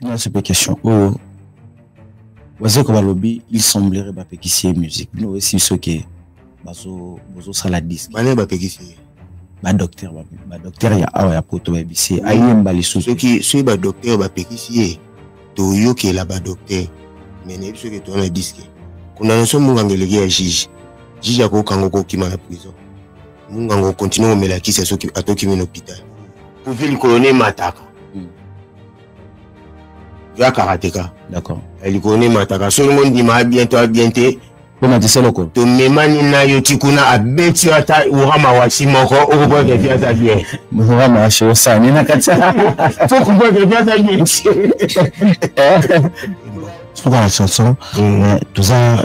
nasepe question oyo oh. bazeko balobi il semblerait bapekisi ye musique bino oyesi biso ke bozosala diske bane bapekisi ye badokter badokter ya awa ya poto bayebisi ye ayemba lisusu soki soki badokter bapekisi ye toyokela badokter me nayebi soki towana diske condamnation monganga eleki ya juge juge akokanga okokima na prison munganga okontinue komela kisi soki atokimi na hôpital kuvi likolo ne emataka hmm. ya karateka d'accord eh, likolo ne emataka soki ngo ndima abien to abien te omatisa eloko tomemani na yo ti kuna abeti yo ata urama wasi moko okokoka kepi aza bien urama wasi osani na kati okokoka kepi aza bien suka na chanson toza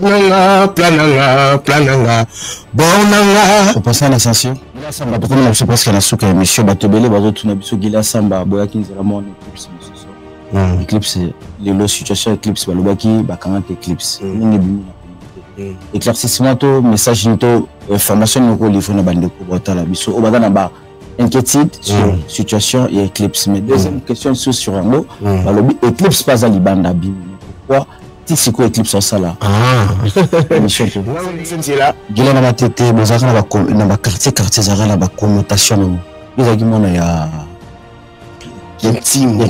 plananga plananga plananga bornanga opasa na sensio gila samba tokomi na biso presque na suka ya émission bato ebele bazotuna biso gila samba boyaki nzela mwana eclipse mosusu hmm. eclipse lelo situation ya eclipse balobaki bakangaki eclipse hmm. nini ebimi na hmm. éclaircissement to message nini to information nini okolivre na bandeko baotala biso oyo baza na ba inquiétude sur mm. situation et Eclipse. Mais deuxième mm. question sur sur un mot, mm. Bah, Eclipse pas à Libanda Bim. Pourquoi ti sikoyo eclipse osala ah. nzela gila na batete bozalaka na baquartier quartier ezalaka na baconnotation nango ezalaki mwana ya kintimbo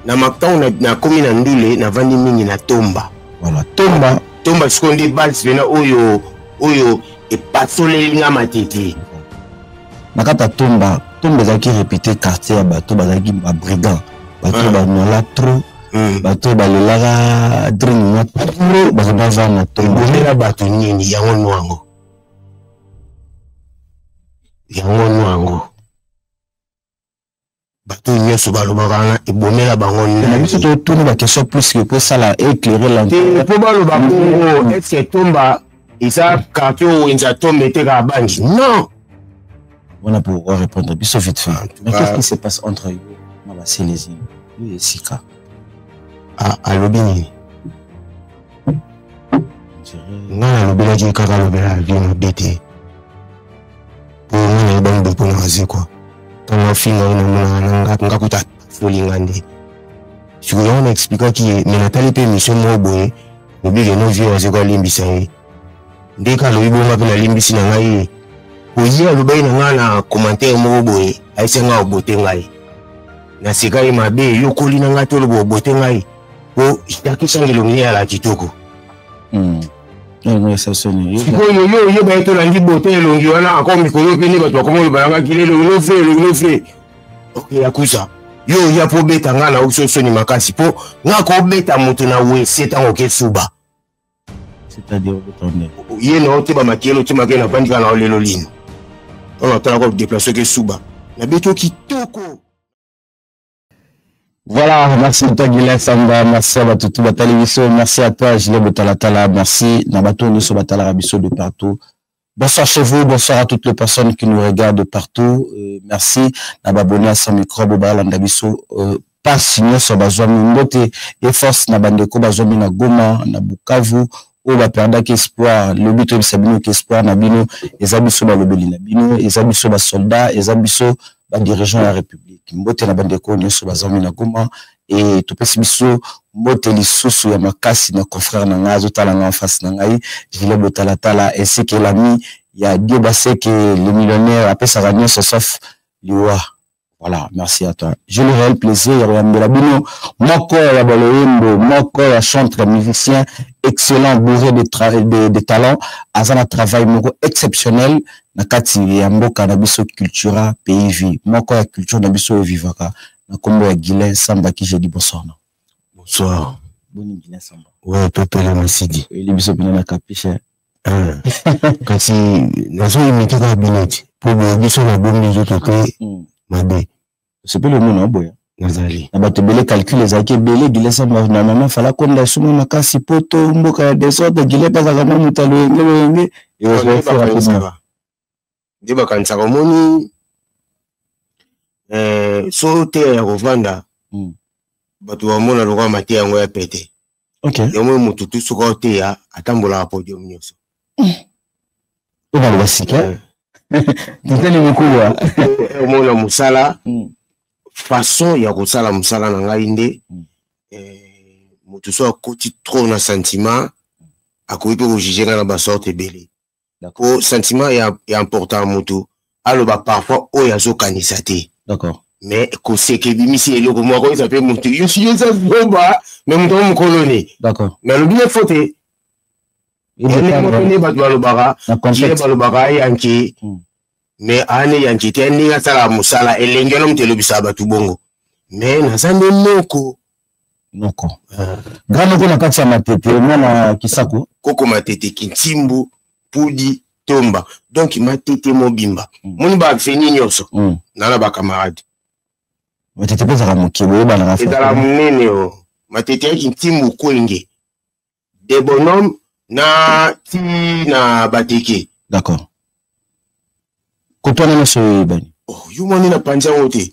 na makambo nakomi na ndule navandi mingi na tomba voilà tomba tomba sikoyo nde base pena oyo oyo epasoleli nga matiti na kati ya tomba tomba ezalaki répété quartier ya bato bazalaki babrigand bato hmm. banola trop hmm. bato oyo balelaka dring mwa trop bato baza na tombomela bato nini yango nwango yango nwango bato nyonso balobaka wana ebomela bango na biso totuni baquestion plus ke kosala éclaire lanpo baloba bongo eske tomba eza quartier oyo wenza tomba etekaka bangi non wana po orépondre biso vite fin mais qu'est ce qui se passe entre yo na baselezi yo esika alobi nini ngai nalobelaki kaka alobela vie mabe te omona ye bango bopona maze kua ntango afinga ye namonaka nanga nga kuta afoli nga nde sikoyo yango na explikaki ye me natali mpe émission moko boye lobi keno vie oyo azeko alimbisa ye nde ka alobi bonga mpe nalimbisi na ngai ye oye alobaki na ngai na commentaire moko boye ayesi ngai obote ngai naseka ye mabe yokoli na ngai toloba obote ngai po jaki sangelongi eyala kitoko hmm. sikoyo yo oyeba ye tolandi bote elongi wana encore mikolo mpe nde bato bakoma oloba yangaki lelo elongi ofre elongi ofre okeya kusa yo oya mpo obeta ngai na okiso soni makasi mpo nga kobeta moto na wese ntango oke suba ye na oteba makele otyema ke na vandika na olelo lino oyo atalaka odeplace oke suba nabeti yo kitoko Voilà, merci à toi Guilain Samba, merci à Batutu Batali Bisso, merci à toi Gilet Botalatala, merci Nabato Nisso Batalara Bisso de partout. Bonsoir chez vous, bonsoir à toutes les personnes qui nous regardent de partout. Euh, merci Nababonné à son micro, Bobalanda Bisso, euh, pas sinon sur Bazouami Mbote, et force Nabandeko Bazouami na Goma, na Bukavu, oyo baperdaki espoir lobi toyebisa bino ke espoir na bino eza biso balobeli na bino eza biso basoldat eza biso badirigeant ya république mbote na bandeko oyo nyonso bazangi na goma e topesi biso mbote lisusu ya makasi na confrère na ngai azotala ngai en face na ngai gilet botalatala ainsi que l'ami ya dieu baseke le millionnaire apesaka nyonso sauf liwa Voilà, merci à toi. J'ai le réel plaisir ya koyambela bino moko ya baloyembo moko ya chantre musicien excellent bourré de, de, de talent aza na travail moko exceptionnel na kati ya mboka na biso cultura pays vie moko ya culture na biso oyo vivaka na nkombo ya guilin samba ki jeudi bonsoir na bonsoir boni guilin samba oyo topele masidi oyeli biso mpena na capiche Ah. kasi nazoyimite kaka bineti mpo boye biso nabombi nzoto te hmm. mabe osepeli omona oboya nazali na bato ebele calcul ezalaki ebele gilesa na mama fala konda esuma makasi poto mboka ya desordre gile bazalaka mwa moto aloyenge loyenge eoeoeaa nde bakanisaka omoni eh, so teya ya kovanda hmm. bato bamona lokola mateya yango ya pete okay. yango motu tu soki oteya atambolaka podium nyonso hmm. obaloba sika eh. totali mokuwa omona mosala hmm. façon ya kosala mosala na ngai nde eh, motu so akoti trop na sentiment akoki mpe kojuge ngai na basorte ebele po sentiment ya, ya important mutu aloba parfois oyo azokanisa te d'accord mais koseka ebimisi eloko moko akoyisa mpe motu yoeza zoba me moto yango mokoloni d'accord mais alobi ye fo te nde bato balobaka ye balobaka ayanke hmm. mais ane yanke te ndenge asalaka mosala elengi wana moto elobisaka bato bongo mais naza nde moko noko ah. grand noko na kati ya matete mwana kisako koko matete kintimbu pudi tomba donc matete mobimba mm. moni baaveni nyonso mm. nana bacamarade matete mpe ezalaka moke boyebanaka ezalaka monene o oh. matete ya kintimbu kwenge de bonhomme na ti na bateke d'accord kotwana nyonso oyo eyebani oh, yo moni na panzi yango te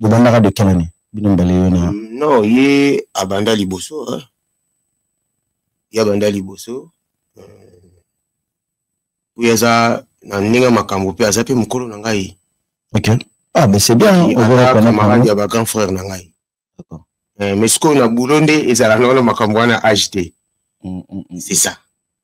bobandaka de quelle année bino mbale yo na non ye abanda liboso hein? ye abanda liboso oyo euh, aza na ndenge makambo mpe aza mpe mokolo na ngai ok ah mais c'est bien camarade ya bagrand frère na ngai euh, mais sikoyo na boulot nde ezalaka wana makambo wana age te mm, mm, mm. c'est ça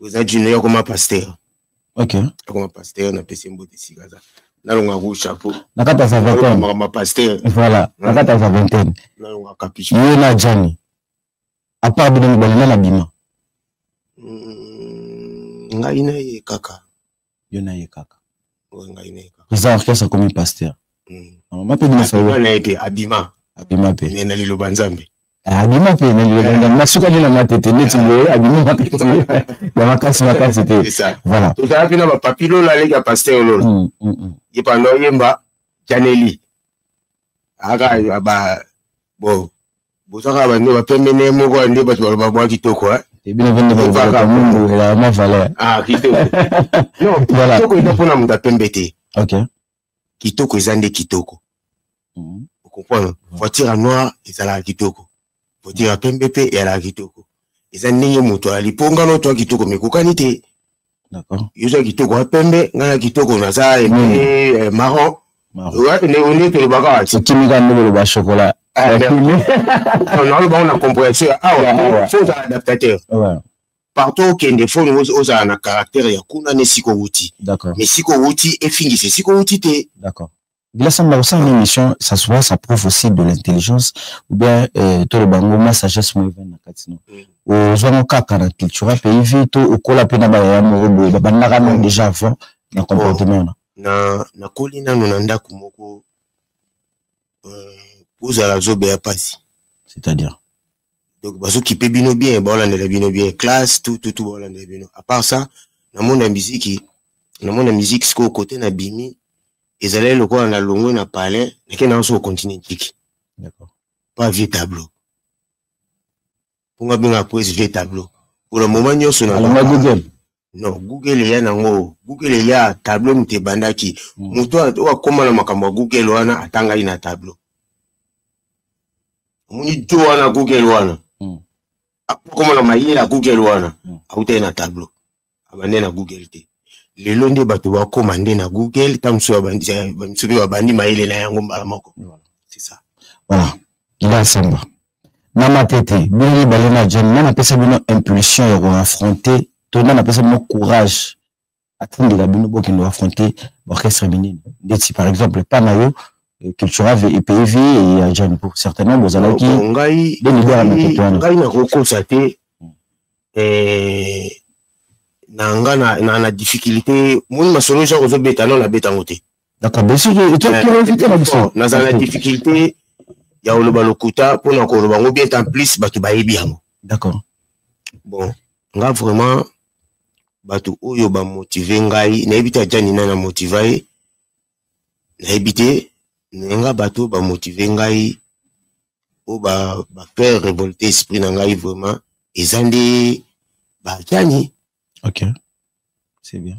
oza jino yo akoma pasteur ok akoma pasteur na pesi mbote esika aza nalonga ku chapeau nakata sa vingtaine makambo pasteur voilà nakata sa vingtaine nalonga capuche ye na jani apart bino mibale na nabima hmm, ngai na ye kaka yo na ye kaka président orchestre akomi pasteur mama mpe bimasana ete abima abima mpe me na liloba nzambe eh, abima mpe na liloba eh. nzambe nasukaki na mate te neti boye abima ya makasi makasi te voilà tozala mpe na bapapi lola aleki ya pasteur lola mm, mm, mm. ye pando oyemba janeli aka ba bo boza kaka bande bapembe nde moko ya nde bato baloba bwa kitoko eh? ebino pende balobaka mundu elaa mwa valeur ah, kitoko eza mpona moto apembe te kitoko eza nde kitoko mhm. okomprendre mhm. voiture ya noir ezalaka kitoko voiture ya pembe mpe eyalaka kitoko eza ndenge moto ayali mpo nga no toya kitoko mekokani te yo oza kitoko ya pembe ngai na kitoko naza eh, hmm. eh, maron nde tolobaka wati kimika nde boloba chokola ah, nalobango na comprehension ya awa ah, fo ozala adaptateur partout okende fo ozala na caractère ya kuna na esika owuti mais esika owuti efingisa esika owuti te Bilasa na kosala émission ça soit ça prouve aussi de l'intelligence ou bien euh, to le bango ma sagesse mo na kati no. Mm. Ozwa ngo kaka na culture pays vie to okola pe na ba ya mo boye ba bandaka no déjà avant na oh. comportement na. Na na koli na no na ndaku moko euh, ozala zobe ya pasi. C'est-à-dire donc bazo kipe bino bien baolandela bino bien classe tout tout tout baolandela bino à part ça na monde ya miziki na monde ya miziki sikoyo kote na bimi ezalaki lokola na longwe na palais nake na yanso continue ntiki pas vieux tableau mpo nga benga poese vieux tableau mpona moma nyonso na non google eya nango google eya tableau moto ebandaki hmm. moto oyo akoma na makambo ya google wana atangaki na tableau omoni to wana google wana hmm. akoma na mayele ya google wana hmm. autaki na tableau abande na google te lelo nde bato bakoma nde na google ntango mosusu mpe babandi mayele na yango mbala moko c'est ça voilà ila samba na matete bino mibale na jane nani apesa bino impulsion ya koaffronte to nani apesa bino courage atindela bino bokende koaffronte baorchestre minene ndeti par exemple epa na yo eh, cultural epayi vie eh, ya jane pour certainement bozalaki de leader ya matete wana ngai nakokosa te hmm. eh, na nga na, na, na difficulté moni masolo jacques ozobeta no nabeta yango te D'accord, mais soki tu as curiosité na biso. Nazala difficulté ya oloba lokuta mpo na koloba yango bien en plus bato bayebi yango. D'accord. Bon, nga vraiment bato oyo bamotive ngai nayebi te ajani na na motiva ye nayebi te naye nga bato oyo bamotive ngai oyo bafaire ba révolte esprit na ngai vraiment eza nde bajani ok c'est bien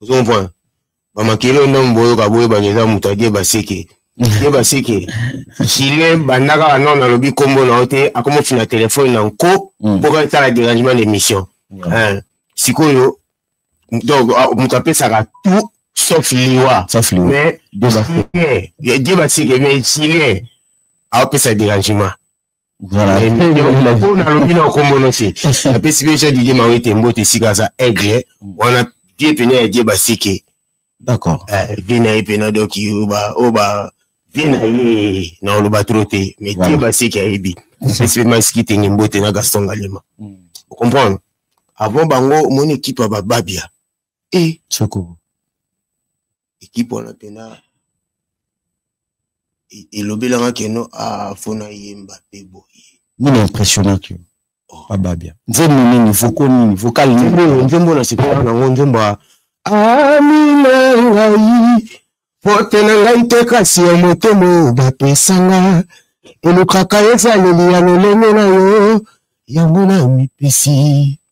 ozo comprendre ba makele oyo ndambo boyoka boyebaka eza moto adie baseke ye baseke jile banda kaka nao nalobi nkombo na yo te akoma ofina telefone na nko mm. mpo kaka etala derangement na émission eh, sikoyo donc ah, moto apesaka tout sauf liwa mais die baseke mais jile aopesa derangement po nalobi na okombo nosi napesi mpe jean didie mawe te mbote esika aza aigle wana vie pene ya die basike d'accord eh, vie na ye pena donc oyo ba vie na ye na oloba tro te mais die basike ayebi apesi mpe masiki tenge mbote na gaston galema hmm. ocomprendre avant bango omoni ekipe ya bababia e eh. soko ekipe wana mpena e, elobelanga keno afona ah, yemba mpe boye nini impressionnaki yo oh. babia nzembo nini voko nini vokal nini nzembo na sikola nango nzembo ya amina ngai pote na ngai te kasi ya motema oyo bapesanga elukaka ezaleli ya lolenge na yo yango na mipesi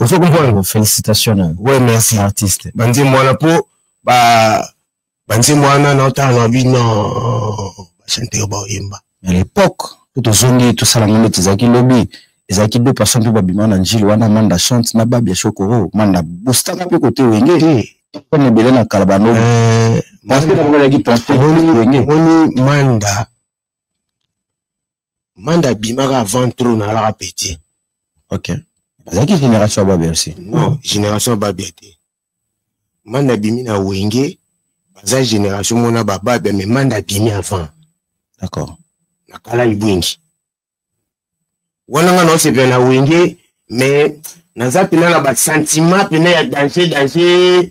ozo comprendre félicitation na ouais merci artiste banzembo wana po ba banzembo wana na otala na bino bachanteur baoyemba à l'époque po tozongi tosala ngo neti ezalaki lobi ezalaki deux personnes mpe babima na njili wana manda chante na babia shokoro manda bostanga mpe kote wenge pone ebele na kala bano moni manda manda abimaka avant trop nalaka petit ok azalaki génération ya babia aussi non génération ya babia te manda abimi na wenge baza génération mona bababia mais manda abimi avant d'accord na kala ibwingi wana nga naosepela na wenge mais naza mpena na basentiment mpena ya danger danger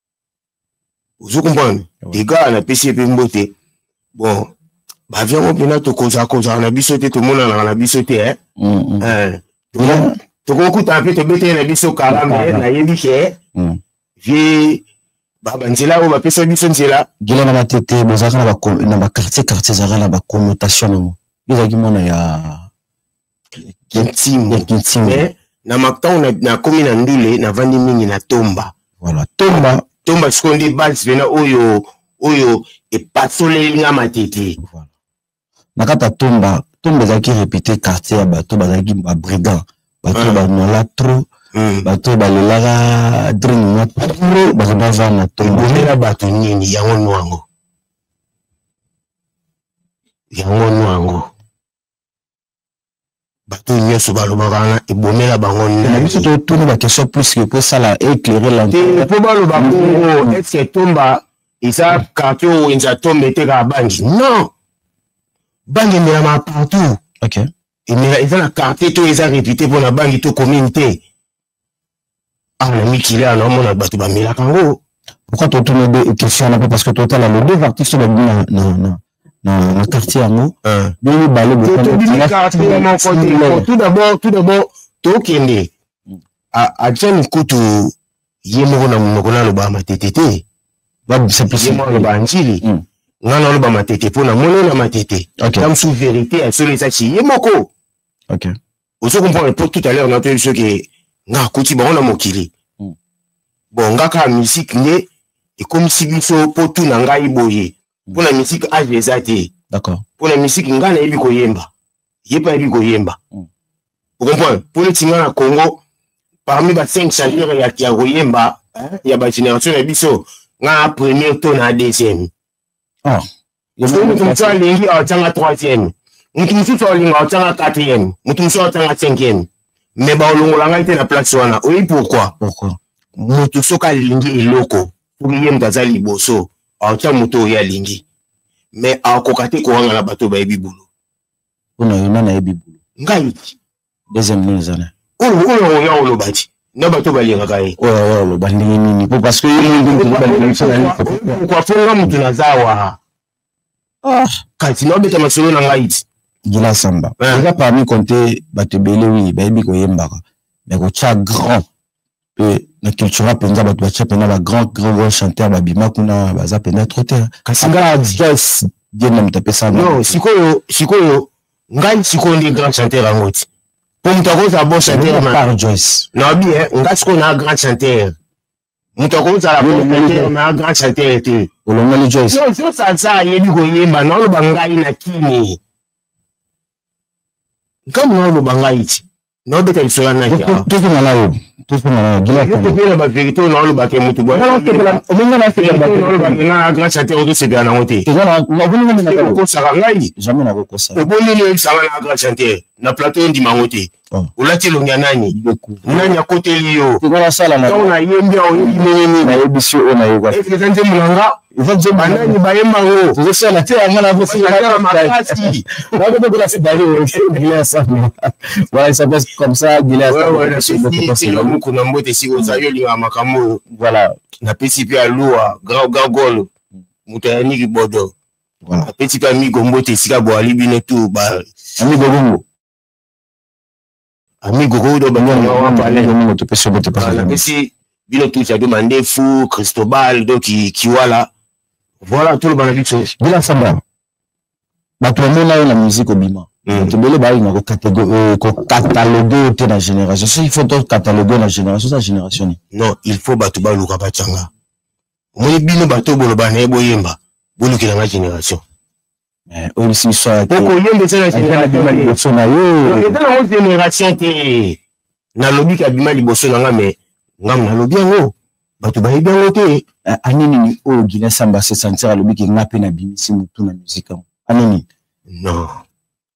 ozo comprendre degar napesi ye mpe mbote bon bavia yango mpena tokozala kozala na biso te tomonanaka na biso te eh? mm, mm. eh, tokokutana mpe tobetele na biso kala me nayebi ke mm. vie banzela oyo bapesa biso nzela gila na matete bozalaka na baquartier quartier ezalaka na baconnotation nango ezalaki mwana ya kintimbo kintimbo mais na makango na, na komi na ndule na vandi mingi na tomba voilà tomba tomba sikoyo nde base pena oyo oyo epasoleli nga matete voilà. na kati ya tomba tomba ezalaki repute quartier ya bato bazalaki babrigand bato ah. banola trop hmm. bato oyo balelaka drine mwa trop bato bavanda tombomela bato nini yango nwango yango nwango bato nyonso balobaka wana ebomela bango na biso totuni bakestion plus que mpo esala éclaire lantene mpo baloba bongo eske tomba eza quartier oyo wenza tomba etekaka bangi non bangi emelama partout okay. emela eza na quartier to eza répute mpo na bangi to commune te awa na mikili awa naomona bato bamelaka yango pourquoi totuna de question wana mpe parce que totala le deux artiste babimi na, na, na, na, na quartier yango ah. bino mibale tout d'abord tout d'abord tokende atia mikutu ye moko na monoko naloba matete te babisa ye moko aloba njili hmm. nga naloba matete mpo namoni na matete ta mosusu verité ya solo ezaki ye moko ozo comprendre po tout à l'heure natoyebi biso ke nga akuti bango na mokili hmm. bon nga kaka musique nde ekomisi biso po tu na ngai boye hmm. mpo na musique age eza te mpo na musique ngai nayebi koyemba ye mpe ayebi koyemba hmm. okomprendre mpo neti ngai na congo parmi ba cinq chanteur ya, ya koyemba ya bagénération na biso ngai na premier to na deuxième ah. Soki moto mosusu alingi atyanga troisième, moto mosusu alinga atyanga quatrième, moto mosusu atyanga cinquième, me baolongola ngai te na place wana. Oyebi pourquoi? Pourquoi? Moto soki alingi eloko soki ye moto aza liboso aotya moto oyo alingi me akoka te kowangana bato bayebi bulo. Mpo na yo nani ayebi bulo? Ngai deuxième nini eza na oyo oya oloba ti na bato balingaka ye oyo oloba ndenge nini po parce que ye mokoafonga motu naza awa ah. kasi naobeta masolo na ngai ti gila samba eza parmi konte bato ebele wi bayebi koyembaka me kotya grand mpe na cultura mpenza bato batya mpenza ba grand grand grand chanteur babima kuna baza mpenza trop te kasi nga jes diema moto apesa no sikoyo sikoyo ngai sikoyo nde grand chanteur yango ti mpo moto akozala bon chanteur par joyce nabi eh, nga sikoyo naa grand chanteur moto akozala bon chanteur naa grand chanteur te olongoli joyce joyce aza ayebi koyemba naoloba ngai na kini nkambo naoloba ngai ti na obeta lisolo na naki awa tozonga na yo tozonga na yo gila yo kopela ba verite oyo naoloba te motu boye omonga na sepela ba naoloba te na grâce ate okosepela nango te okosaka ngai jamais nakokosa oboneli oyebisanga na grâce ate na plateau ondima yango te oh. olati elongi ya nani nani akoteli yo ntango nayembi aoyebi nini nayebisi oyo nayoka eza nzembo na nga banani bayemba ngo tozosala te yanga nakosala makasi nakotokola sibali voilà ça passe comme ça gileasamuku na mbote esika ozali olingaka makambo oyo voilà napesi mpe alua grand gagolo moto ya niki bodo napesi mpe amigo mbote esika boali bino tu ba amigo bongo amigo ko do bango wa mbale ko moto pe sobe te pas pesi bino tout ya de mandefu cristobal do ki kiwala voilà tout le bana biso bila samba bato bamona yo na musique obima hmm. bato ebele bayina euh, kokataloge te na génération soki faut tokataloge na génération eza génération nini non il faut bato baluka batyanga omoni bino bato boloba na ye boyemba bolukela nga génération Eh, oyebisi biso okoyemba eza na générationabima liboso na yo eza nango génération te nalobi kabima liboso na nga me ngambo nalobi yango bato bayebi yango te eh, aninini oyo gina samba sesantir alobi ke nga mpe nabimisi motu na musike yango anini non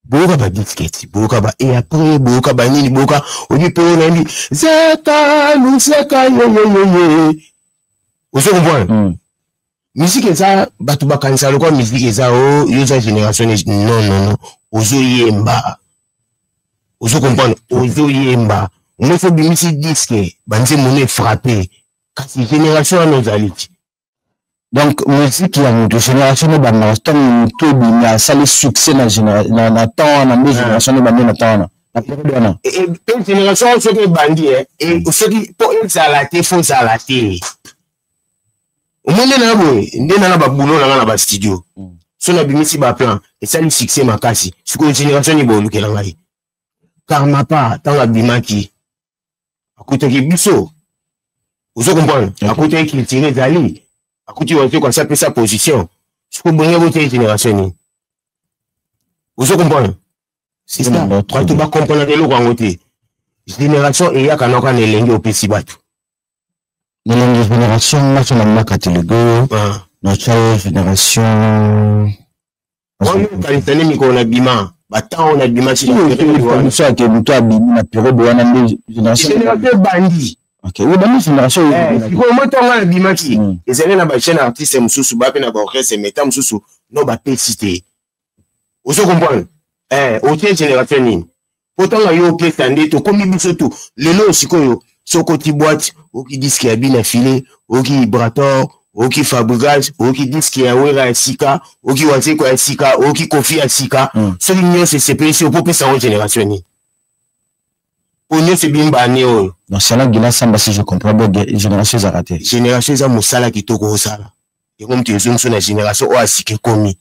boyoka badisketi boyoka ba e apres boyoka banini boyoka oyebi mpe oyo nayebi zeka luseka yoyoyoye ozo comprendre hmm. miziki eza bato bakanisaka lokola miziki eza o oh, yo oza génération non non non ozoyemba ozo comprendre ozoyemba omoi fo obimisi diske banzembo no efrape kasi génération wana ozali ti donc miziki ya moto génération no bandaka ntango moto ebimi asali succès na temps wana nde génération no bande na temps wana na periode wana génération soki ebandi soki mpo ezala te fo ozala te omoni nde naya boye nde nana babulo nanga na bastudio mm. so nabimisi baplan esali succès makasi sikoyo génération nini bolukela ngai karmapa ntango abimaki akutaki biso ozo comprendre akutaki culture ezali akuti watoko asi apesa position sikoyo bonge botei génération nini ozo comprendre sista bato bakomprenaka eloko yango te génération eyaka noko na elenge opesi bato nalongi génération nyonso na mwa katolike oyo natya ye génération wana okanisa nini mikolo na bima batango na bima biso ake moto abimi na periode wana nde génération ebandi ebandi génération sikoyo mo ntango wana abimaki ezali na bajeune artiste mosusu bape na baorchestre meta mosusu no bapesi te ozo comprendre eh otie generation nini po ntanga yo opesa nde tokomi biso tu lelo sikoyo soko ti boite oki diske ya bina file oki ibrator oki fabrigage oki diske ya wera ya sika oki wazeko ya sika oki kofi ya sika mm. soki nyonso esepelisi opo opesa yango generation nini po nyonso ebimi baane oyo nasala gila samba si je comprends bien génération ezalaka te génération eza mosala kitoko osala yango moto ezongiso na génération oyo asika ekomi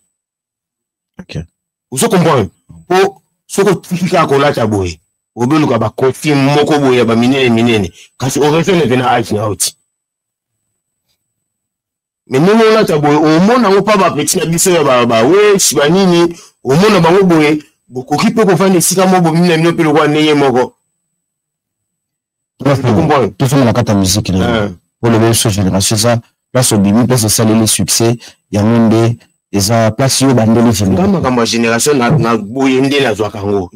okay. ozo comprendre po soki otiki kaka kolata boye obeluka bakofi moko boye ya baminene minene kasi orefene mpe na age na yo ti me ndenge olata boye omona yango mpa bapeti na biso ya bawesi banini omona bango boye bokoki mpe kofanda esika moko bomina bino mpe lokola ndenge moko tofanda na kati ya miziki na oloba biso génération eza place obimi place osaleli succès yango nde eza place yo bandeli vinga makambo ya génération na boye nde nazwaka yango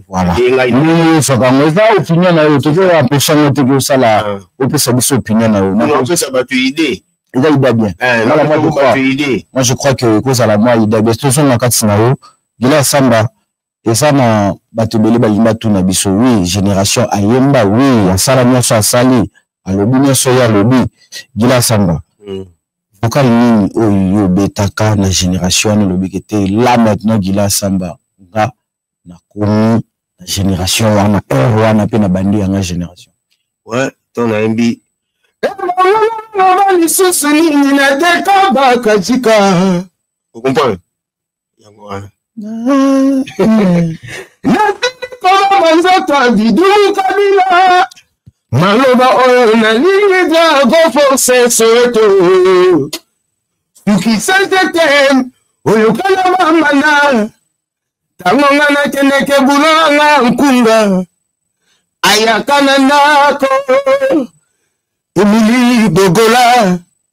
ezwaka yango eza opinion na yo tozo empêche yango te kosala ah. opesa biso opinion na yo opesa bato idée eza ida bien eh, moi je crois que ekozala mwa ida bien tozonga kati na yo gila samba eza na bato ebele balingi batuna biso wi génération ayemba wi asala nyonso asali alobi nyonso ye alobi gila samba mm. vocal nini oyo yo obetaka na génération wana olobiki te la maintenant gila samba nga nakomi na génération wana heure wana mpe na bandi yanga génération ouais, to nayembi lisusu nini natekabaka jika okomprendre yango wana kolama nzoto abidulu kabila maloba oyo nalingi za koforce soweto sukisete te oyokana mamana ntango nga nakendeke bulo nga nkunga ayaka na ndako emili bogola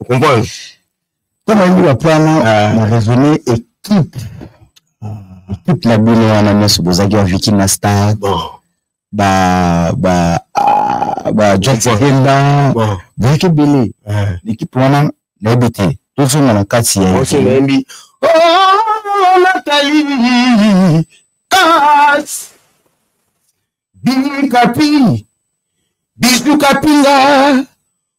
okomprendre mpo nayebi bapana ah. na raisonne équipe ekipe na bino wana nyonso bozalaki ba viki na star ba ba ah, ba jotsenda bozalaki ebele ekipe eh. wana nayebi te tozonga na kati ya nayebi natali kas bikapi bisu kapinga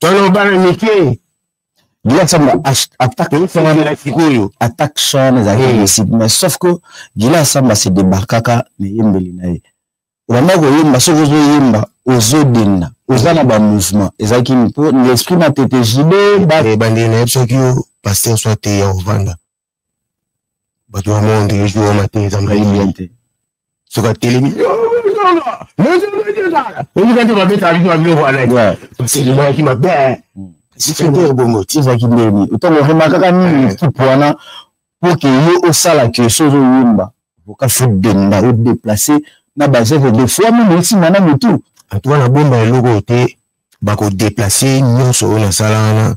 tolo bana mike Gilad Samba attaque oyo attaque son ezalaki hmm. possible mais sauf que Gilad Samba se débarquaka na eyembeli na ye obanda koyemba soki ozoyemba ozodenda oza na bamouvement ezalaki mpo l'esprit na tete jibe eh, bandeli na ye soki yo paster soit te ya ovanda bato ya monde ezo wana te eza maye te soki atelemi oyika nde babetaka biso babiloko wana baselemaki mabe sikende ebongo ti ezalaki ndeni otango remakaka nini ekipe wana mpo ke yo osala ke so ozoyemba oka fudenda odeplace na bazeve de fois meme esimba na motu antuka na bomba eloko te bakodeplace nyonso oyo nasala wana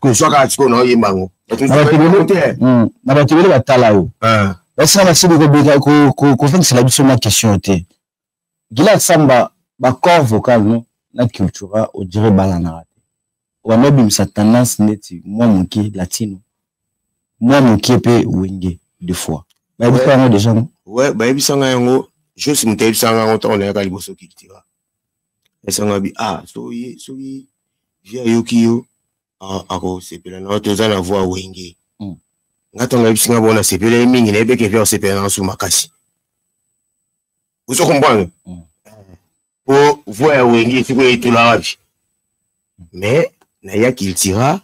kozwa kaka sikoyo naoyemba yango hmm, na bato ebele batala yo ah. basala basili kofandisela biso na question te gilad samba bacorps vocal no na cultura odire balanaka te wanda obimisa tendance neti mwa moke latino mwa moke mpe wenge de fois bayebisa yango deja no bayebisa ngai yango juste moto ayebisa ngai yango ntango nayaka liboso cultura esanga bi ah soki soki vie ayoki yo akosepela na yo toza na voi wenge hmm. nga ntango nayebisi nga bona sepela ye mingi nayebi eke vie akosepela na nsu makasi ozo comprendre hmm. po voi ya wenge esikoyo etula wapi mais naya cultura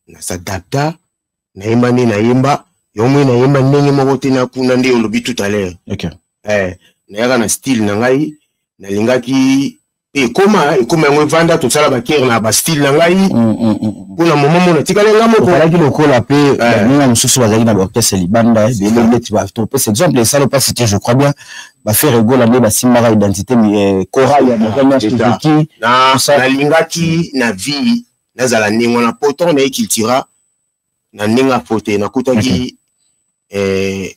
na s'adapta nayemba nde nayemba yo moi nayemba ndenge moko te na kuna nde olobi tout à l'heure okay. eh, nayaka na style na ngai nalingaki mpe ekoma ekoma yango evanda tosala bakere na bastyle na ngai mpo mm, mm, mm, na momo mona tikali nga mokoalaki lokola mpe eh. baninga mosusu bazalaki na baorkestre libanda eh, bele neti topesa exemple esala mpa cité je crois bien bafere egola nde basimbaka identité eh, chorale ya bakomaki nalingaki na vie nazala ndenge wana po ntango naye cultura na ndenge ya fote nakutaki mm -hmm. eh,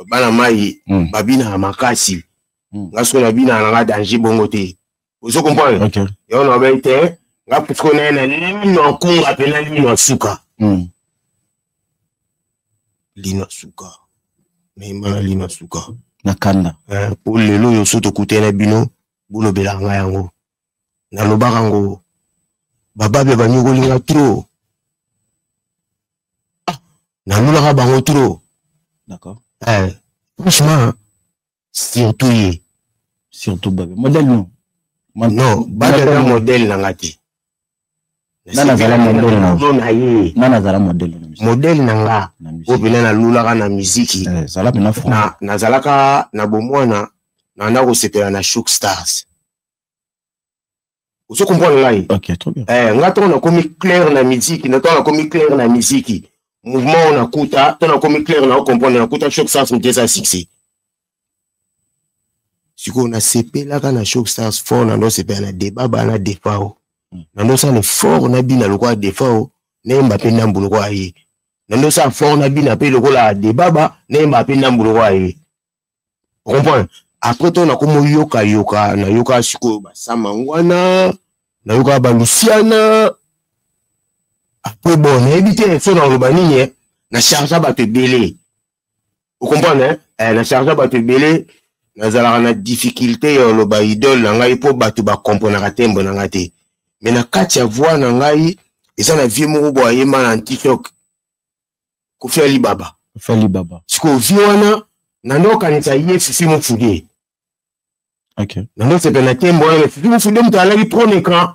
bana mai mm. babinaka makasi mm. nga soki nabinaka na nga danger bongo te ozo comprendre okay. yango nabai te nga pusko naye na lino ya nkunga mpe na lino ya suka mm. lino ya suka mema na lino ya suka na kanda eh, mpo lelo oyo so tokutani na bino bolobelaka nga yango nalobaka ngo bababe banyokoli nga tro ah, nalulaka bango tro eh, franchement surtout ye surtout babe modèle non non babe na modèle na nga te nazala modele na nga oyo mpena nalulaka na miziki eh, nazalaka na bomwana nanda kosepela na shook stars ozo comprendre ngai okay, trop bien. eh, nga ntango nakomi claire na miziki ntango nakomi claire na miziki mouvement oyo nakuta ntango nakomi claire na ocomprendre nakuta choc stars moto eza succès sikoyo nasepelaka na choc stars fort nando sepela na deba bana defao hmm. nando sala fort na bina lokola defao nayemba mpe ndambu lokola ye nando sala fort na bina mpe lokola debaba nayemba mpe ndambu lokola ye comprendre après ntango nakoma oyokayoka nayoka sikoyo basamangwana nayoka balusiana après bon nayebi te so nakoloba nini eh. na chargea bato ebele okomprendre eh? eh, na chargea bato ebele nazalaka na difficulté ya oloba idole na ngai mpo bato bakomprenaka tembo na ngai te me na kati ya voi na ngai eza na vie moko boye ayemba na tiktok kofi alibaba kofi alibaba sikoyo vi wana nando okanisa ye fifi mofude okay. nando sepela na tembo wana fifi mofude moto alaki trone grand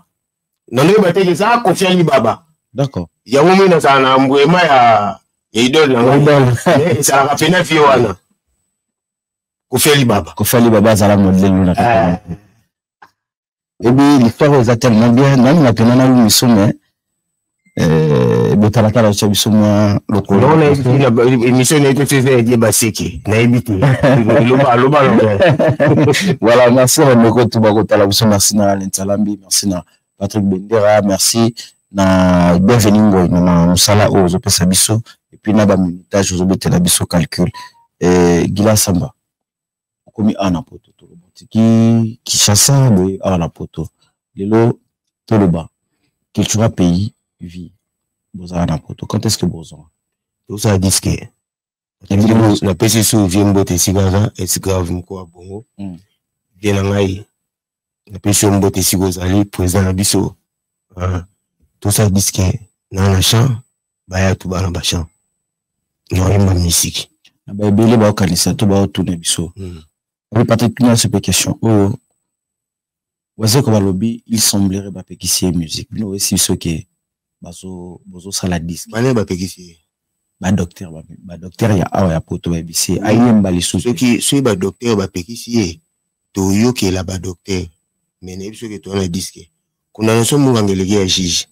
nando yeba te eza kofi alibaba d'accord yango moi nazala na mbwema ya ya idole na ngai eh, ezalaka mpena vi wana kofi alibaba kofi alibaba azala modele luna eh. ebi l'histoire oyo eza tellement bien nani napena na lumiso mais eh, botalatala otya biso mwa lokololoemission nayebi te eza edie baseki nayebi te loba loba voilà merci bandeko tu bakotala biso merci na lensalambi merci na patrick bendera merci na bienvenu ngoi na mosala oyo ozopesa biso epuis na bamintage ozobetela biso calcul eh, gila samba okomi awa na poto toloba otiki kinshasa boye awa na poto lelo toloba cultura pays vie bozala na poto quand est ce que bozonga tozala diske napesi su vie mbote esika aza esgrave moko ya bongo vie hmm. na ngai napesi yo mbote esika ozali président na biso hein. tosala diske na na champ baya tuba na bachamp naoyemba misiki na baebele baokanisa to baotuna biso hmm. oyo patrik tuna se mpe question oyo oh, wazeko balobi il semblerait bapekisi ye musique bino oyesi biso ke bazo bozo sala disque bana bapekisi ye badocteur badocteur ya awa ya poto bayebisi ye ayemba lisusu soki soki badocteur bapekisi ye toyokela badocteur me nayebi soki toza na diske kuna nyonso munganga eleki ya juge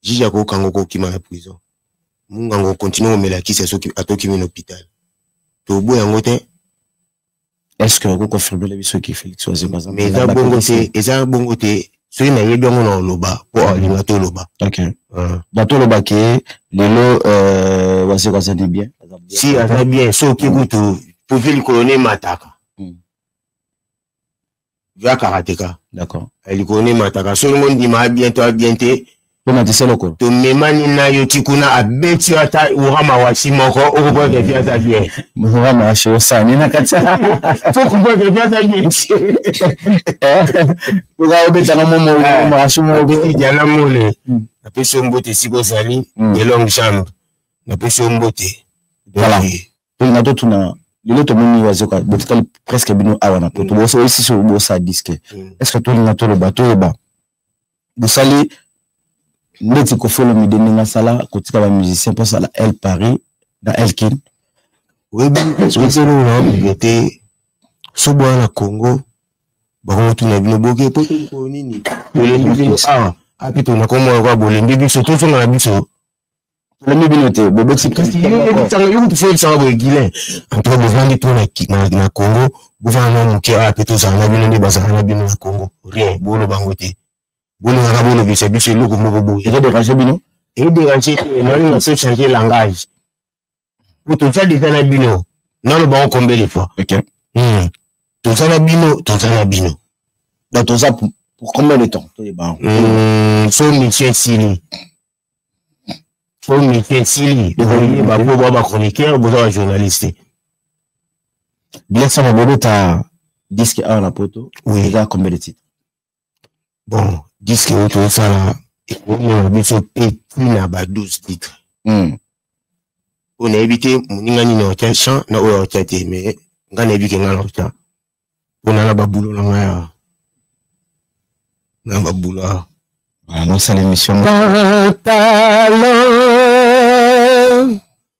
juge akokanga okokima na prison munganga okontinue komela kisa soki atokimi na hôpital toboya yango te est ce que oko confirmela biso ki félix wazemba aza mais eza bongo te eza bongo te soki nayebi yango na oloba mpo alinga toloba na toloba ke lelo euh, wazeko azali bien si aza bien soki kutu profil likolo na emataka ya karateka d'accord eh, likolo nde emataka soki ngo ndima abien to abien te tomatisa lokolo tomemani na yo ti kuna abeti yo ata urama wasi moko okoboya kepi aza bien urama wasi osani na kati okoboya kepi aza bien oka obetaka momo urama wasi moko diana mole hmm. napesi yo mbote esika ozali hmm. de longue jambe napesi yo mbote voilà tolina totuna lelo tomoni wazoka botikali presque bino awa na poto bosoyisisi bosa diske est ce que tolinga toloba toyeba bosali ndeti kofolo mide ndenge asala kotika bamusicien mpo asala el paris na elkin oyebi soki eloko na babuble te so bwana na congo bakokotuna bino boke po tolikoyo nini bolembi biso awa api tona komona kwa bolembi biso tozonga na biso tolemi bino te bobeti presidentyokotifoyebisaka boye guilin antoka bovandi mpo na congo bovanda na moke awa mpe tozala na bino nde bazala na bino na congo rien boloba yango te bolingaka bolobisa biso eloko moko boye ezoderange bino ezoderange te nalinga so change langage po toza deja na bino naloba yango combien de fois okay. mm. toza na bino toza na bino donc toza pour, pour combien de temps toyeba yango mm, so mission esili so mission esili okoyeba po boa bachroniqueur boza bajournaliste biasana bobeta diske awa na poto oui. eza combien de titre bon diske oyo tozosala ekomona biso te tina ba 12 titre hmm. oyo nayebi te moninga nini aotya champ na oyo aotya te mais ngai nayebi ke ngai naotya mpona na babulo na ngai awa na babulo awa nosala emission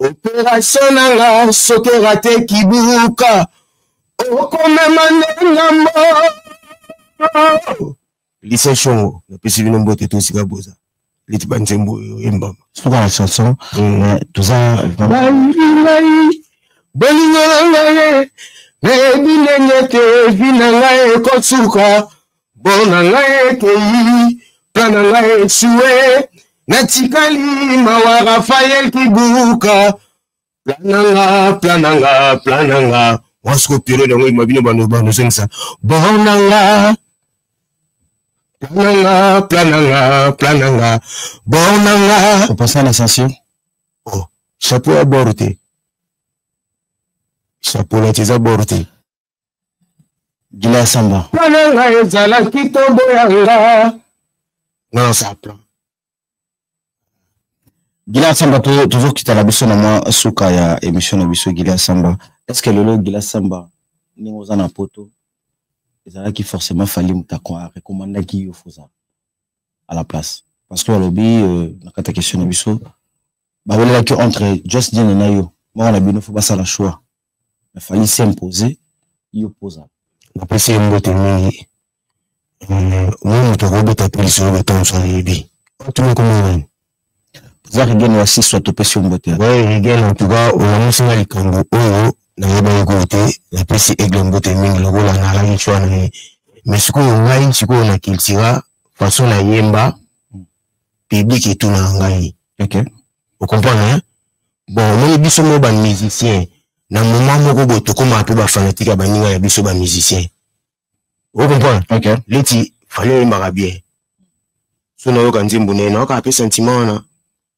operation na nga soki orate kibuka okomema nde na mbo lise shongo napesi bino mbote to esika boza leti banzembo oyo embama suka na chanson mm. toza balingi ngai bolingo na ngai eyebi ndenge te evi na ngai ekosuka Bon na ngai ekei, plan na ngai esue, natikali mawa Rafael Kibuka. Plan na nga, plan na nga, plan na nga. Wasko periode yango ima bino bano bano zengisa. Bon na nga, plan na nga, plan na nga, plan na nga. Bon na nga. Papa ça la sensation. Oh, chapeau à bord te. Chapeau là, tu es à bord te. gila samba mpana nga ezalaki nkombo ya nga nga nasala plan gila samba tozokita na biso na mwa suka ya émission na biso gila samba est ce que lelo gila samba ndenge oza na poto ezalaki forcément fali moto arekomandaki yo foza à la place parce que alobi euh, na kati ya question na biso bawelelaki entre just diene na yo moko na bino fo basala choix na fali se impose yo poza napesi ye mbote mingi euh, mwa moto akobeta mpe lisolo batonso ayebi otuna komona nani za rigene wa siswa topesi yo mbote we rigene antuka olamusi nga likambo oyo nayebaki koyo te napesi aigle mbote mingi lokola nalaki cwa na ye mais sikoyo ngai sikoyo na cultura façon nayemba public etunaka ngai okay. okomprendre hein? bon omoni biso moko bamusicien na moment moko boye tokomaka mpe bafanatike ya baninga ya biso bamusicien okomprendre okay. leti fali oyembaka bien so nayoka nzembo naye nayoka mpe sentiment wana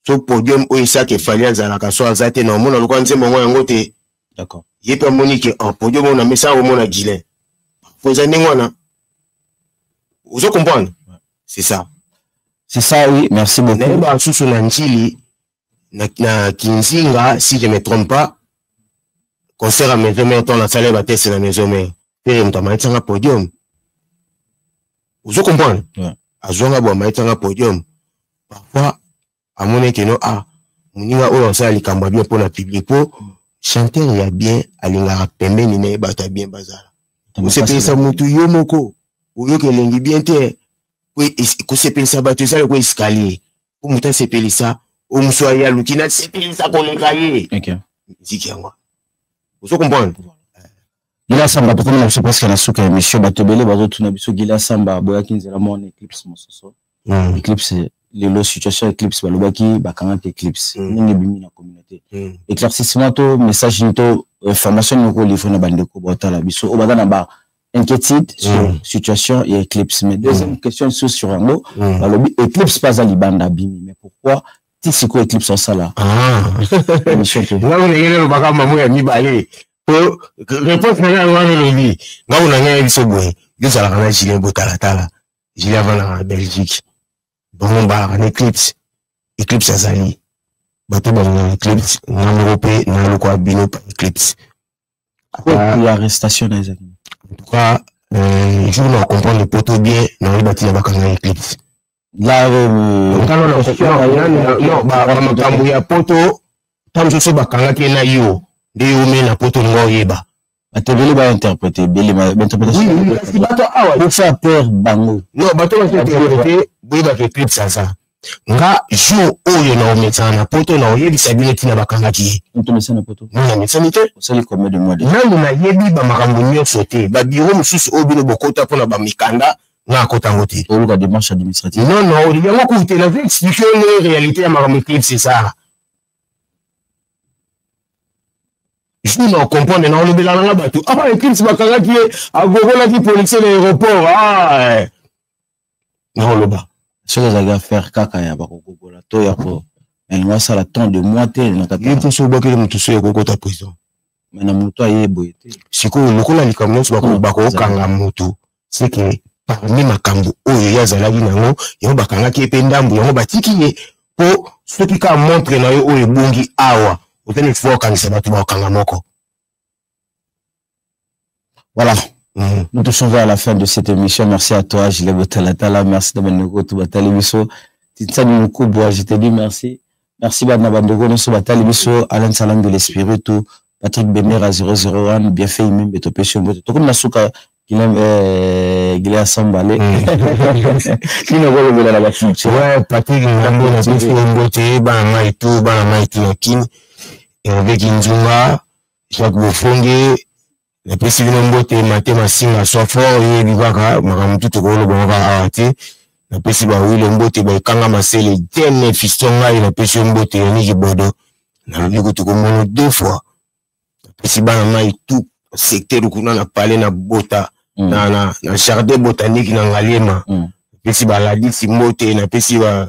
so podium oyo esaki efali azalaka so aza te naomona lokola nzembo yango yango te d'accord ye mpe amoni ke en oh, podium oyo na mesa akomona gilen po eza ndenge wana ozo comprendre c'est ça c'est ça oui merci beaucoup naye basusu na njili na, na kinzinga si je me trompe pas concert ya maison mère ntango nasala ye bateste na maison mère pere moto amayetisanga podium ozo comprendre yeah. azwanga bo amayetisanga podium parfois amoni ete no ah moninga oyo asala likambo ya bien mpo na public mpo chanteur ya bien alingaka pembeni na ye bato ya bien bazala kosepelisa motu yo moko oyoka elengi bien te kosepelisa bato eza lokola escalier mpo moto asepelisa oyo mosu aye aluki nasepelisa koleka ye miziki yango ozo comprendre Gila Samba tokomi na biso presque na suka ya mission bato ebele bazotuna biso Gila Samba aboyaki nzela mwana eclipse mosusu mm. eclipse lelo situation eclipse balobaki bakangaki eclipse mm. ndenge ebimi na communauté mm. éclaircissement to message ni to euh, formation nini okolivre na bandeko baotala biso oyo baza na ba inquiétude sur mm. situation ya eclipse mais deuxième mm. question lisusu sur yango mm. balobi eclipse mpe aza libanda abimi mais pourquoi ti sikoyo eclipse osala ah. émission te ngai ndenge nalobaka mamo ya mibale po réponse na ngai wana olobi ngai na ngai biso boye yo ozalaka na julien botalatala julien avandaka na belgique bango mbalaka na eclipse eclipse azali bato balingaka eclipse nga moko mpe nalokwa bino pa eclipse arrestation na ezali en tout cas euh, jour na comprendre poto bien naoyeba ntina bakanga eclipse makambo ya poto ntango mosusu bakangaki na yo nde yo omei na poto olinga oyeba bato ebele bainterprete ebele bainterpreteasi bato awa bofaire peur bango no bato bainterprete boyebaka eclipse aza nga jour oyo naomesana na poto naoyebisa bino ntina bakangaki ye namesani te nanu nayebi bamakambo nyonso te babiro mosusu oyo bino bokota mpona bamikanda nga akota yango te oluka démarche administrative non non yango kutu te nazo explike yo ndenge réalité ya makambo eclipse ezala jour na ocomprendre na olobela nanga bato ah eclipse bakangaki ye agogolaki policier na aéroport ah eh. naoloba soki ezalaki affaire kaka ya bakogogola to ya ko nalingi asala temps de moi te nakataye mposo obakeli moto so ya kokota prison me na moto aye boye te sikoyo lokola likambo nyonso bakokanga moto c'est que parmi makambo oyo ye azalaki na yango yango bakangaki ye mpe ndambo yango batiki ye mpo soki kaka montre na yo oyo ebongi awa oza na espoir okangisa bato bakokanga moko voilà Mm. Nous touchons vers la fin de cette émission. Merci à toi, Gilles Botalatala. Merci de Manokoto Batalibiso. Titsani Mukubwa, je te dis merci. Merci bana bandeko nyonso batali biso Alain Salam de l'Esprit tout Patrick Bemera 001 bien fait imembe topesi yo mbote tokomi na suka Guillaume euh, Guillaume Sambale kino kolobela na bafuti ouais Patrick Ngambo na pesi yo mbote bana mai tout bana mai tout na kin Hervé Kinzunga Jacques Bofonge napesi bino mbote mate masinga swa fort yebi kaka makambo tu tokoloba kaka awa te napesi bawile mbote baekanga masele dene fisto ngai napesi yo mbote ya niki bodo nalobi kutu komono deux fois napesi bana mai tu secteur kuna na pale na bota mm. na, na, na jardin botanique na ngaliema mm. napesi baladisi mbote napesi ba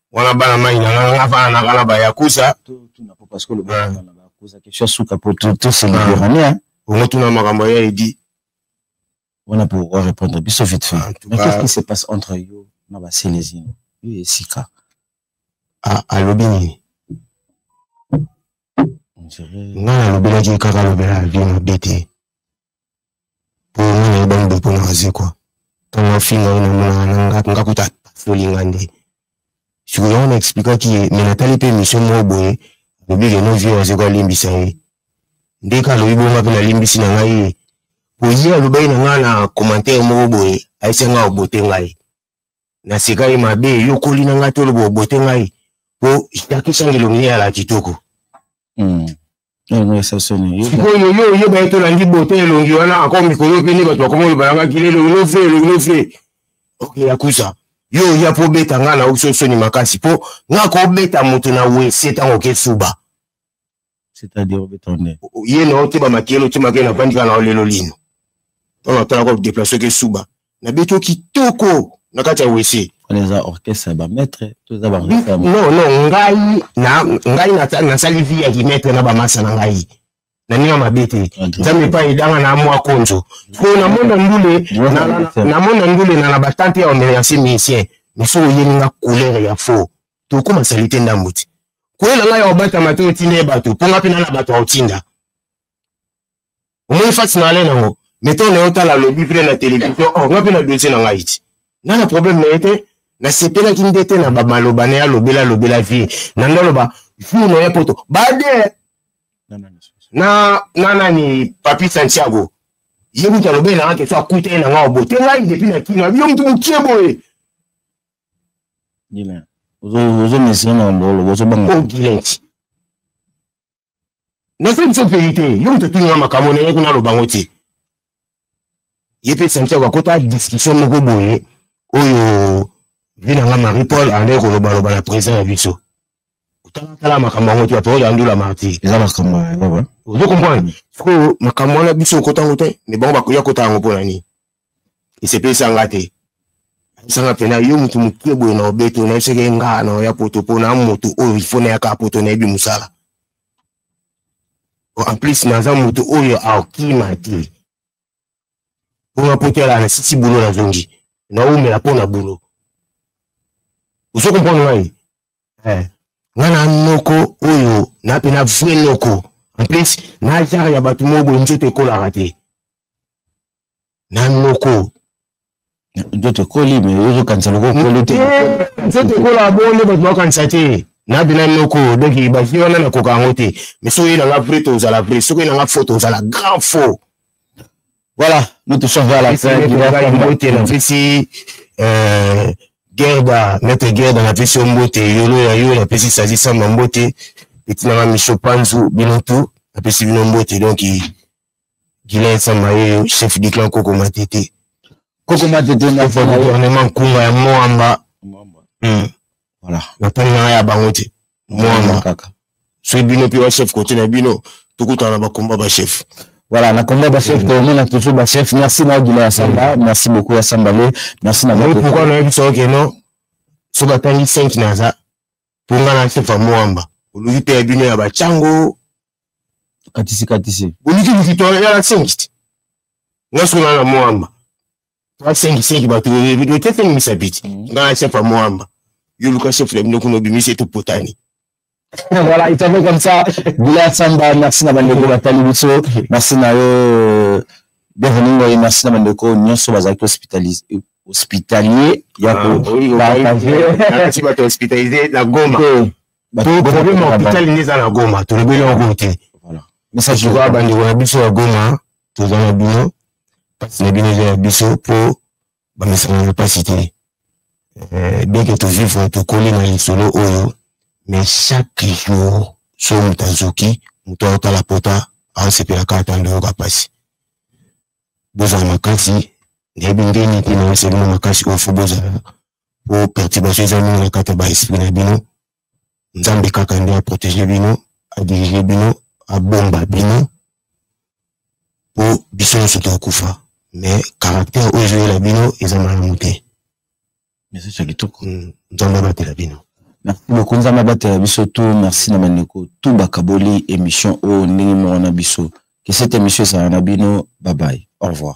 wana bana mai na nga nga fana na kala ba yakusa to to na papa skolo ba na ba yakusa kesho suka po to to se liberania on to na makambo ya edi wana po wa répondre biso vite fait ah, mais qu'est-ce qui se passe entre yo na ba celezino yo esika ah alobi nini nga nalobelaki kaka alobela vie mabe te omona ye bango bopona waze kua ntango afinga ye namonaka na nga nga kuta apasoli nga nde sikoyo yango na explikaki ye me natali mpe emission moko boye alobi ke no vie waze kua alimbisa ye nde ka alobi bonga mpe nalimbisi na ngai ye mpo ye alobaki na ngai na commentaire moko boye ayesi ngai obote ngai na sika ye mabe eyokoli na ngai toloba obote ngai po jaki sangilomine ya la kitoko hmm. eh, sikoyo yo oyeba ye tolandi bote elongi wana ako mikolo mpe nde bato bakoma oloba nangaki lelo lofe elongi lofe ok yakusa yo oya mpo obeta ngai na uso soni makasi mpo ngai kobeta moto na wese ntango okesuba c'est-à-dire obeta nde ye na ote bamakeli otemaka na vandi kaka na lelo lino mpona otalaka odeplace oke suba nabeti o kitoko na kati ya wese wana eza orchestre ya bamaître to eza ba non non ngai na ngai nasali vie ya kimaître na bamasa na ngai na ndenge mabe te ah, nzambe epai edanga na mwa konzo mpo na mona ndule na mona ndule na na batante ya omercier musicien miso oyeli nga couleur ya faux tokoma salite ndambu ti kwela ngai ya obatama te otinda ye bato mpo ngai mpe nana bato ya otinda omoni fati na ale nango meto na yo tala alobi mpe na televizio or oh, ngai mpe na dosie na ngai ti ngai na probleme na ye te nasepelaki nde te na bamaloba na ye alobela alobela vie na nde aloba vie na ye poto bade na na nani papi santiago ye moto alobeli na ngai keso akuta ye na ngai obo te ngai depi na kino abi yo moto mokie boye Gilen. Ozo mesina na mbolo, ozo banga. Oh Gilen. Na senti so pays te, yo mtu tuna makambo na yako na lobango te. Ye pe senti kwa kota discussion moko boye oyo vina nga Marie Paul ande ko loba loba na président ya biso. Tala tala makambo yango te, papa ya ndula marti. Eza makambo ya baba. Ozo comprendre? Siko makambo wana biso kota ngo te, mais bango bakoya kota yango pona nini? esepelisa nga te sanga mpena yo motu moke boye na obeto nayebisaki ye ngaa na oya poto mpo na motu oyo ifo nayaka poto nayebi mosala en plus naza motu oyo akima te mpo na poto yala nasisi bulo nazongi naumela mpo na bulo ozo comprendre ngai eh. nga na noko oyo na mpe na vrai noko en plus na genre ya bato moko boye nzoto ekolaka te na noko nzoto ekoli me ozokanisa loko okoli te nzoto ekola bonde bato bakanisa te na bina noko donc basi wana nakoka yango te mais soki nanga vrai tozala vrai soki nanga faux tozala grand faux voilà nous tous sommes à la fin mbote na pesi euh, gerda maître gerda na pesi yo mbote yolo ya yo na pesi sazi samba mbote etinanga micho panzu bino tout na pesi bino mbote donc Gilet Samba Yoyo, chef du clan Koko Matete. Koko Matete, na fa gouvernement Kunga ya Moamba. Hmm. Voilà. Na pali na ya bango te. Moamba kaka. Soki bino pe wa chef côté na bino, tokutana na ba combat ba chef. Voilà, na combat ba chef, on a toujours ba chef. Merci na Gilet Samba, merci beaucoup à Samba Merci na. Pourquoi na yebisa que non? Soki atangi 5 naza. mpo nga na nsefa moamba oluki te ya bino ya bacango katisi katisi oluki likito ya la sengi te nga soki na na moamba la sengi sengi bato otetenimisa biti mm. nga na nsefa moamba yo luka chef na bino kuna obimisi ete opotani voilà, il t'avait comme ça. Boula Samba, merci na bandeko batali biso. Merci na yo. Bienvenue, merci na bandeko. Nyonso bazalaki hospitalisé. hospitalier ya ah, kopartage bato hospitalize na goma to problème ya hôpital nde eza na goma tolobeli yango te message oyo bandeko na biso ya goma toza na bino mpasi na bino eza ya biso mpo bamesana na mpasi te eh, bien que tovivre tokoli na lisolo oyo mais chaque jour so moto azoki moto aotala pota aosepelaka ata ndoyoka mpasi bozala makasi nayebi ndenge te na esengeli makasi oyo fo bozala po perturbation eza mingi na kati ya baesprit na bino nzambe kaka nde aprotege bino adirige bino abomba bino po biso nyonso tokokufa mais caractère oyo ezoyela bino eza malamu te message ya kitoko mm, nzambe abatela bino merci beaucoup nzambe abatela biso tu merci na bandeko tu bakaboli émission oyo ndenge moko na biso que cette émission ezala na bino babaye au revoir